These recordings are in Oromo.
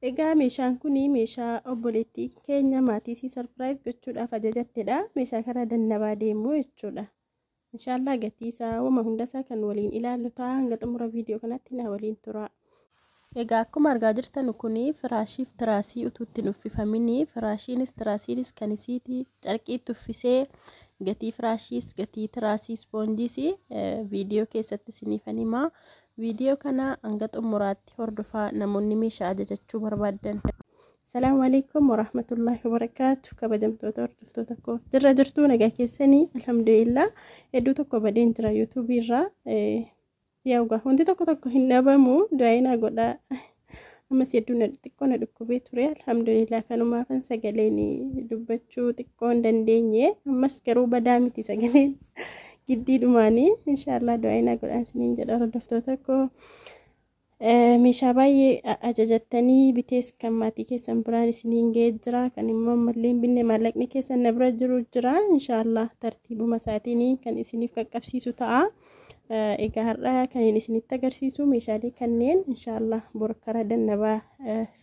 Egaa meeshaan kun meeshaa obboleettii keenya maatii isii sarpiraayiz gochuudhaaf ajajattedha. Meeshaa kana dannabaa deemuu jechuudha. Inshaallah gatii isaa wama hunda isaa kan waliin ilaallu ta'a hanga xumura viidiyoo kanatti na waliin tura. Egaa akkuma argaa jirtan kun firaashiif tiraasii utuu ittiin uffifamin firaashiinis tiraasiinis kan isiiti carqiitti uffisee gatii firaashiis gatii tiraasii ispoonjiis viidiyoo keessatti isiniifan himaa. Viidiyoo kana hanga xumuraatti hordofaa namoonni meeshaa ajajachuu barbaaddan. Salaamu alaikum warahmatullahi wabarakaatu kabajamtoota hordoftoota koo jirra jirtuu nagaa keessanii alhamdulillah hedduu tokko badeen jira yuutuubii irraa yaa dhugaa wanti tokko tokko hin dhabamu du'aayinaa godhaa ammas hedduu na xiqqoo na dhukkubee ture alhamdulillah kanumaafan sagaleen dubbachuu xiqqoo hin dandeenye ammas garuu badaa miti sagaleen giddii dhumaanii inshaallah du'aayinaa godhaan siniin jedha hordoftoota koo meeshaa baay'ee ajajattanii bitees kan maatii keessan biraan isiniin ga'ee jira kan immoo ammallee binne maallaqni keessan na bira jiru jira inshaallah tartiibuma isaatiin kan isiniif qaqqabsiisu ta'a. Egaa har'a kan inni isinitti agarsiisu meeshaalee kanneen inshaallah bor karaa dannabaa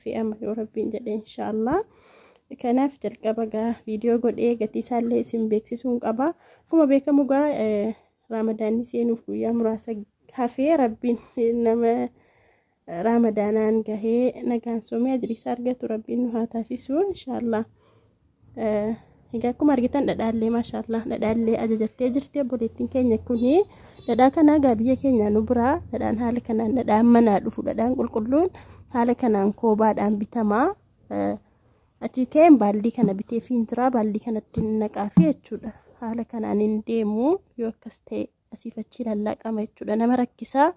fe'ama yoo rabbiin jedhe inshaallah. Kanaaf jalqaba gaa viidiyoo godhee gatii isaallee isin beeksisuun qaba. Akkuma beekamu gaa raamadaanni seenuuf guyyaa muraasa hafee rabbiin nama raamadaanaan gahee nagaan soomee ajiriisaa argatu rabbiin nu haa taasisu inshaallah egaa akkuma argitan dhadhaallee maashaallah dhadhaallee ajajattee jirti obboleettiin keenya kuni dhadhaa kana egaa biyya keenya nu biraa dhadhaan haala kanaan dhadhaan manaa dhufu dhadhaan qulqulluun haala kanaan koobaadhaan bitamaa achi ka'een baallii kana bitee fiin jira baallii kanatti naqaa fi jechuudha haala kanaan hin deemu yoo akkas ta'e asiif achi lallaaqama jechuudha nama rakkisaa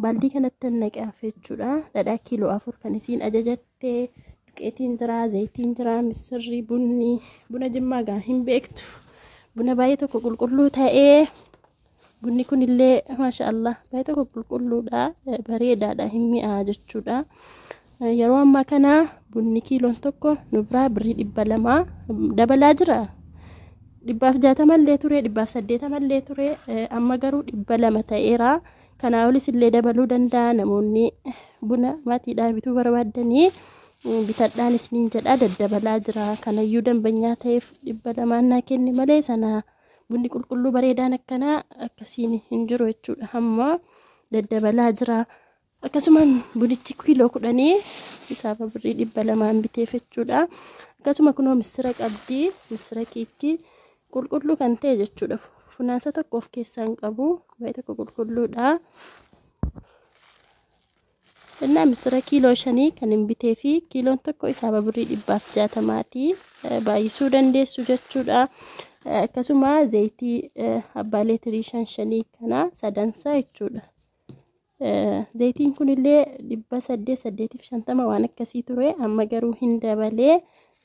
baaldii kanatti naqaaf jechuudha dhadhaa kiiloo afur kan isiin ajajatte duqeetiin jira zayitiin jira misirri bunni buna jimmaa gaa hin beektu buna baay'ee tokko qulqulluu ta'ee bunni kunillee maasha allah baay'ee tokko qulqulluudha bareedaadha hin mi'aa jechuudha Yeroo ammaa kana bunni kiiloon tokko nu biraa birrii dhibba lama dabalaa jira. Dhibbaaf jaatama illee ture, dhibbaaf saddeetama illee ture, amma garuu dhibba lama ta'eera. Kanaa olis illee dabaluu danda'a namoonni buna maatiidhaa bituu barbaaddanii bitadhaan isiniin jedha daddabalaa jira. Kanayyuu dambanyaa ta'eef dhibba lamaan naa kenni malee sana bunni qulqulluu bareedaan akkanaa akkasiin hin jiru jechuudha. Amma daddabalaa jira. akkasuma bunichi kiiloo kudhanii isaaf birrii dhibba lamaan biteef jechuudha akkasuma kunoo missira qabdi missira kiitti qulqulluu kan ta'e jechuudha funaansa tokko of keessaa hin qabu baay'ee tokko qulqulluudha innaa missira kiiloo shanii kan hin bitee fi kiiloon tokko isaaf birrii dhibbaaf jaatamaati baay'isuu dandeessu jechuudha akkasuma zayitii abbaa leetirii shan shanii kana sadansaa jechuudha Zaytiin kunillee dhibba saddeet saddeetiif shantama waan akkasii ture amma garuu hin dabalee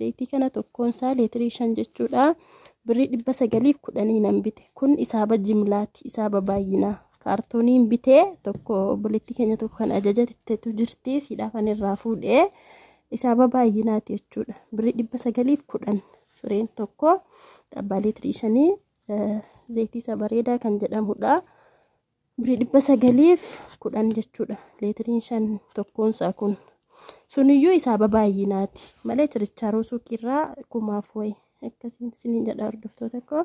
zaytii kana tokkoonsaa leetirii shan jechuudha birrii dhibba sagaliif kudhanii nan bite kun isaaba jimlaati isaaba baay'inaa kaartooniin bitee tokko obboleettii keenya tokko kan ajajattetu jirti siidhaa kan irraa fuudhee isaaba baay'inaati jechuudha birrii dhibba sagaliif kudhan fireen tokko dhabbaa leetirii shanii zaytii isa bareedaa kan jedhamudha. Birrii dhibba sagaliif kudhan jechuudha. Leetiriin shan tokkoonsaa kun. Suniyyuu isaa babaay'inaati. Malee chirichaaroo suuqiirraa kumaaf wayi. Akkasiin isiniin jedha hordoftoota koo.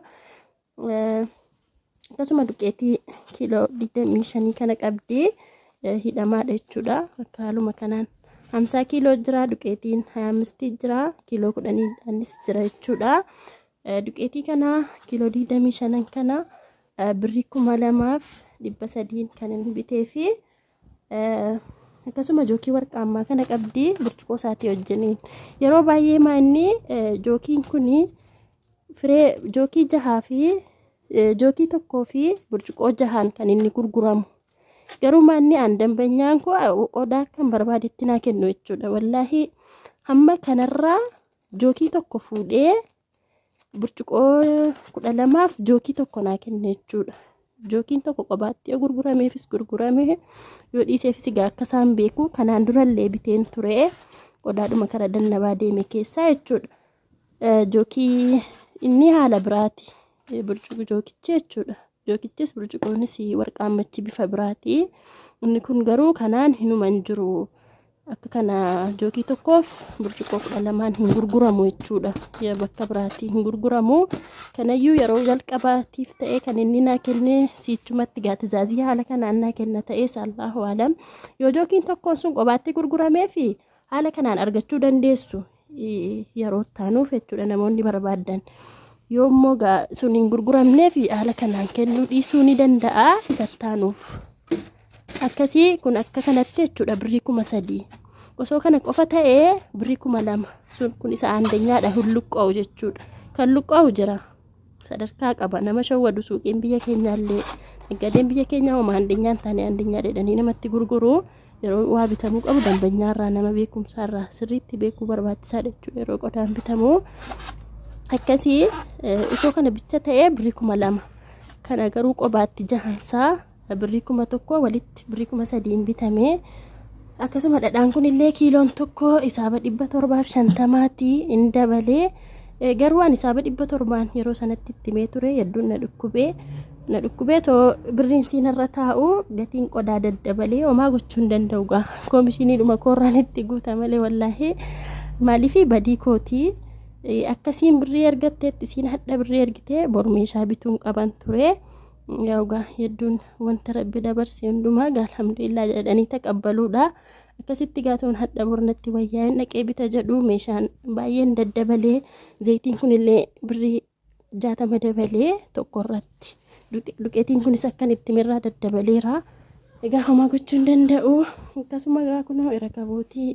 Akkasuma duqeetii kiiloo digdamii shanii kana qabdii hidhamaadha jechuudha. Akka haaluma kanaan. Hamsaa kiiloo jira duqeetiin hayaamistii jira kiiloo kudhaniidhaanis jira jechuudha. Duqeetii kana kiiloo digdamii shanan kana birri kuma lamaaf dhibba sadiin kan inni bitee fi akkasuma jookii warqaa ammaa kana qabdi burcuqoo isaatii wajjiniin yeroo baay'ee maa inni jookiin kun firee jookii jahaa fi jookii tokkoo fi burcuqoo jahaan kan inni gurguramu garuu maa inni aan dambanyaan koo qodaa kan barbaadetti naa kennu jechuudha wallaahi hamma kanarraa jookii tokko fuudhee burcuqoo kudha lamaaf jookii tokko naa kenne jechuudha. Jookiin tokko qobaatti yoo gurgurameefis gurgurame yoo dhiiseefis egaa akka isaan beeku kanaan durallee biteen ture qodaadhuma kara dannabaa deeme keessaa jechuudha. Jookii inni haala biraati. burcuqi jookichi jechuudha. Jookichis burcuqoonis warqaan machi bifa biraati. Inni kun garuu kanaan hinuma hin jiru. Akka kana jookii tokkoof burcuqoo kudha lamaan hin gurguramu jechuudha. Yaa bakka biraati hin gurguramu. Kanayyuu yeroo jalqabaatiif ta'ee kan inni naa kenne siichumatti gaatizaazii haala kanaan naa kenna ta'ee saallahu alam. Yoo jookiin tokkoon sun qobaatti gurguramee fi haala kanaan argachuu dandeessu. yeroo taanuuf jechuudha namoonni barbaadan yoo immoo sun hin gurguramneef haala kanaan kennuu dhiisuu ni danda'a isa taanuuf akkasii kun akka kanatti jechuudha birrii kuma sadii osoo kana qofa ta'ee birrii kuma lama sun kun isa aandenyaadha hulluqqa'u jechuudha kan luqqa'u jira sadarkaa qaba nama shawwadu suuqiin biyya keenyaallee naggadeen biyya keenyaa homa handeenyaan taane handeenyaa dheedhanii namatti gurguru yeroo waa bitamuu qabu dambanyaarraa nama beekumsaarraa sirriitti beekuu barbaachisaa jechuudha yeroo qodaan bitamu akkasii osoo kana bicha ta'ee birrii kuma lama kana garuu qobaatti jahansaa birrii kuma tokko walitti birrii kuma sadiin bitame akkasuma dhadhaan kun illee kiiloon tokko isaaba dhibba torbaaf shantamaati in dabalee garuu ani isaaba dhibba torbaan yeroo sanatti itti mee ture hedduun na dhukkubee na dhukkubee too birriin siinarra taa'u gatiin qodaa daddabalee homaa gochuu hin danda'u gaa koomishinii dhuma koorraan itti guuta malee wallaahi maaliif badii kootii akkasiin birrii ergatteetti siin hadha birrii ergitee bor meeshaa bituun qaban ture. Yaa ugaa hedduun wanta rabbi dabarse hundumaa gaa alhamdulillah jedhanii taqabbaluudha. Akkasitti gaatuun hadha bornatti wayyaa'een dhaqee bita jedhu meeshaan baay'een daddabalee zayitiin kunillee birrii jaatama dabalee tokko irratti duqeetiin kunis akkan itti mirraa daddabaleera. Egaa homaa gochuu hin danda'u. Akkasuma egaa kunoo irrakabootii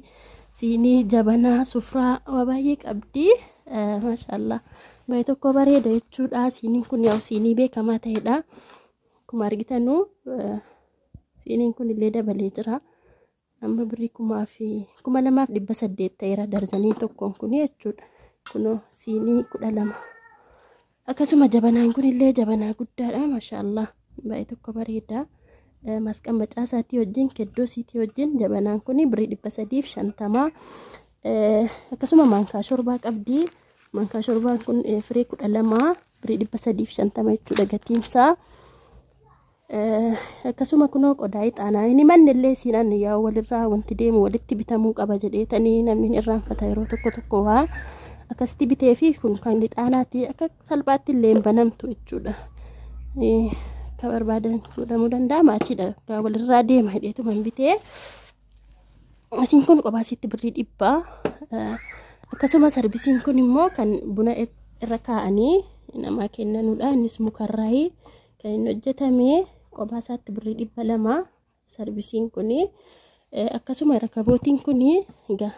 siinii jabanaa sufraa waa baay'ee qabdi. Maashaallah. Baay'ee tokko bareeda jechuudha. Siiniin kun yaa'u siinii beekamaa ta'edha. Akkuma argitanu siiniin kun illee dabalee jira. Amma birrii kumaa fi kuma lamaaf dhibba saddeet ta'eera darzanii tokkoon kun jechuudha. Kunoo siinii kudha lama. Akkasuma jabanaan kun illee jabanaa guddaadha. Mashaallah baay'ee tokko bareeda. Masqan macaa isaatii wajjin keddoo siitii wajjin jabanaan kun birrii dhibba sadiif shantamaa. Akkasuma maankaa shorbaa qabdi. Mankaa shorbaan kun firii kudha lama birii dhibba sadiif shantama jechuudha gatiinsaa. Akkasuma kunoo qodaa ixaanaa inni manni illee siinaan yaa walirraa wanti deemu walitti bitamuu qaba jedheetanii namni irraanfata yeroo tokko tokko waa akkasitti bitee fi kun kan ixaanaati akka salphaatti illee hin banamtu jechuudha. Akka barbaadan fuudhamuu danda'a maachiidha walirraa deema jedheetuma hin bitee. Asiin kun kophaa isiitti birrii dhibba. Akkasuma sarbisiin kun immoo kan buna irra kaa'anii namaa kennanudha. Innis mukarraayi kan inni hojjetame kophaa isaatti birrii dhibba lama sarbisiin kun. Akkasuma rakabootiin kun egaa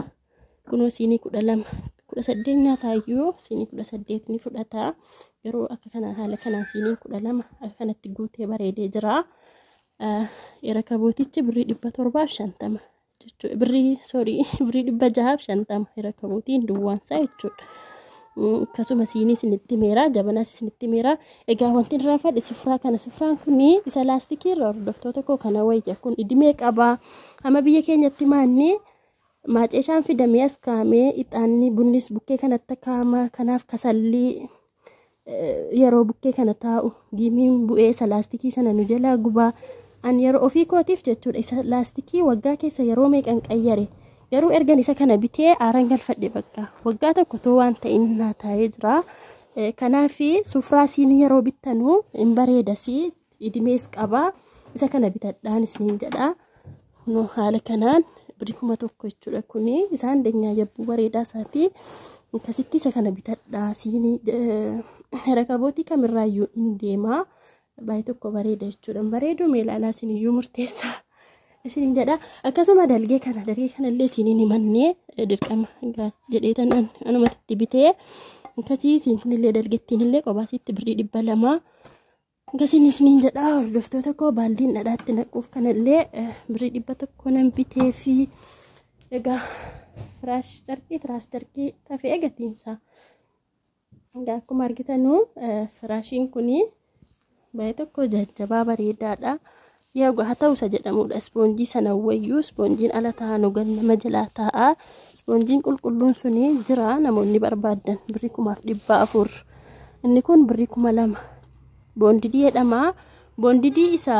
kunoo siinii kudha lama kudha saddeet nyaataayyuu siinii kudha saddeet ni fudhata. Garuu akka kanaan haala kanaan siiniin kudha lama akka kanatti guutee bareedee jira. Erakabootichi birrii dhibba torbaaf shantama jechuudha. Birrii soorii birrii dhibba jahaaf shantama erakabootiin duwwaansaa jechuudha. Akkasuma siinii isinitti meeraa jabanas isinitti meeraa egaa wanti irraa fadhi sifraa kana sifraan kun isa laastikii irra hordoftoota koo kana wayya kun idimee qabaa amma biyya keenyatti maanni maaceeshaan fidamee as kaa'amee ixaanni bunnis bukkee kanatti kaa'ama kanaaf kasallii yeroo bukkee kana taa'u giimiin bu'ee isa laastikii sana nu jalaa gubaa an yeroo ofii kootiif jechuudha isa laastikii waggaa keessa yeroo meeqan qayyare garuu ergan isa kana bitee aaran galfadhe bakka waggaa tokko too waan ta'in naa taa'ee jira kanaafi sufraa siin yeroo bittanu hin bareedasii idimees qabaa isa kana bitadhaan isiniin jedha kunoo haala kanaan birrii kuma tokko jechuudha kuni isaan danyaa yabbuu bareedaa isaati akkasitti isa kana bitadhaa siinii rakabootii kamirraayyuu hin deemaa baay'ee tokko bareeda jechuudha bareeduu mee ilaalaa isiniyyuu murteessaa isiniin jedha akkasuma dalgee kana dalgee kanallee isiniin himannee dirqama jedhee tanaan anumatti bitee akkasii isin kunillee dalgettiinillee qobaasitti birrii dhibba lamaa Akkasiin isiniin jedhaa hordoftoota koo baaldiin dhadhaatti naquuf kanallee eh, birrii dhibba tokko nan bitee fi egaa firaash carqii tiraas carqii tafee egatiinsaa. Egaa akkuma argitanuu eh, firaashiin kunii baay'ee tokko jajjabaa bareedaadha. Yooga haa ta'u isa jedhamuudha. Ispoonjii sana wayyu ispoonjiin ala taa'aa nu gad nama jalaa taa'aa. Ispoonjiin qulqulluun suni jira namoonni barbaadan birrii kumaaf dhibbaa afur. Inni kun birrii kuma lama. Boondidii jedhama. Boondidii isa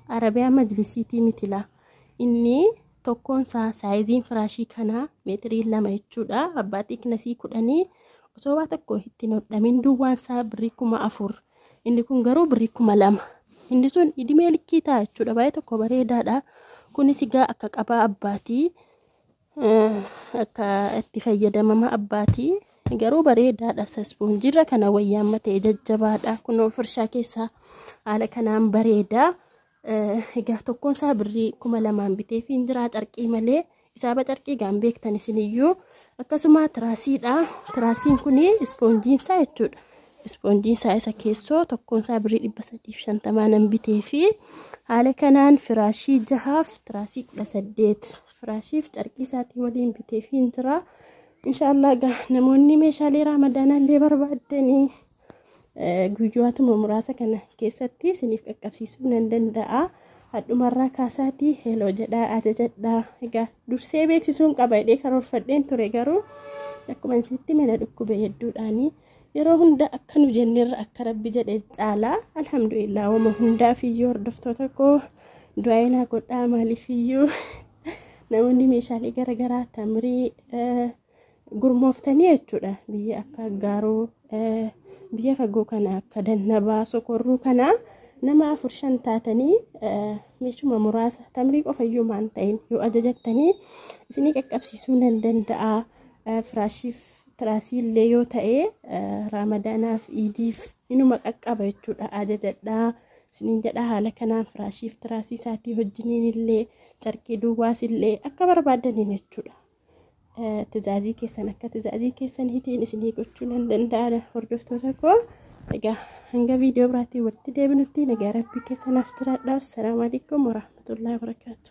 Arabiyaa majlisiitii mitila. Inni tokkoon isaa saayiziin firaashii kanaa meetirii lama jechuudha. Abbaa xiiqnasii kudhanii osoo waa tokko ittiin hodhamin duwwaan isaa birrii kuma afur. Inni kun garuu birrii kuma lama. Inni sun idimee likkii ta'a jechuudha. Baay'ee tokko bareedaadha. Kunis egaa akka qabaa abbaatii akka itti fayyadamama abbaatii garuu bareedaadha sasbuun jirra kana wayyaa amma ta'e jajjabaadha kunoo firshaa keessaa haala kanaan bareeda Egaa tokkoon isaa birrii kuma lamaan bitee fi jiraa carqii malee isaaba carqii gaan beektan isiniyyuu akkasuma tiraasiidha. Tiraasiin kun ispoonjiin isaa jechuudha. Ispoonjiin isaa isa keessoo tokkoon isaa birrii dhibba sadiif shantamaa nan bitee fi haala kanaan firaashii jahaaf tiraasii kudha saddeet firaashiif carqii isaatii waliin bitee fi jiraa. Inshaallah egaa namoonni meeshaalee raamadaanaa illee barbaaddanii. guyyootuma muraasa kana keessatti isiniif qaqqabsiisuu nan danda'a. Hadhumarraa kaasaatii heloo jedhaa ajajadhaa. Egaa dursee beeksisuun qaba jedhee karoorfadheen ture garuu akkuma isitti mana dhukkube hedduudhaanii yeroo hunda akka nu jennerra akka rabbi jedhe caalaa alhamdulillah wama hundaaf iyyuu hordoftoota koo du'aa'ee naa godhaa maaliif iyyuu namoonni meeshaalee garaagaraa tamrii gurmooftanii jechuudha biyya akka gaaruu biyya fagoo kana akka dannabaa sokorruu kana nama afur shan taatanii meeshuma muraasa tamrii qofayyuu maan ta'in yoo ajajattanii isinii qaqqabsiisuu nan danda'a firaashiif tiraasii illee yoo ta'e raamadaanaaf iidiif inuma qaqqaba jechuudha ajajadhaa isiniin jedha haala kanaan firaashiif tiraasii isaatii hojjiniin illee carqii duwwaas illee akka barbaadaniin jechuudha Tizaazii keessan akka tizaazii keessan hitiin isinii gochuu nan danda'a hordoftoota koo. Egaa hanga viidiyoo biraatiin walitti deebinutti nagaa rabbii keessanaaf jiraadhaa. Assalaamu alaikum warahmatullahi wabarakaatu.